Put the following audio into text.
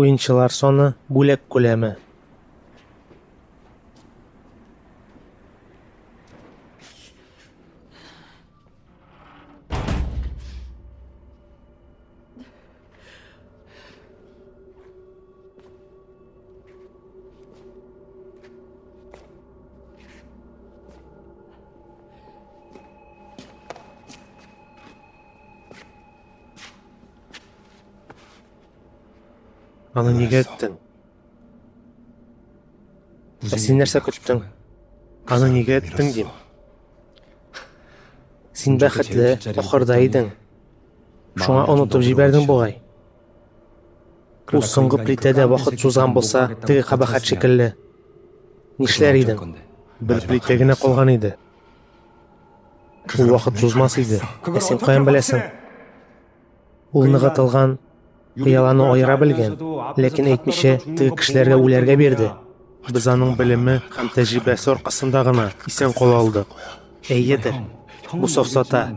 Уенчылар саны, бүләк күләме. Аны неге әйттең? Ә син нәрсә көттең? Аны неге әйттең, дим. Син бәхетле, ахырда идең. Шуңа онытып җибәрдең бугай. Ул соңгы плитәдә вакыт сузган булса, теге кабахәт шикелле. Нишләр идең? Бер плитә генә калган иде. Ул вакыт сузмас иде. Ә син каян беләсең? Ул ныгытылган пыяланы аера белгән, ләкин әйтмичә, теге кешеләргә үләргә бирде. Без аның белеме һәм тәҗрибәсе аркасында гына исән кала алдык. Әйедер, бу сафсата.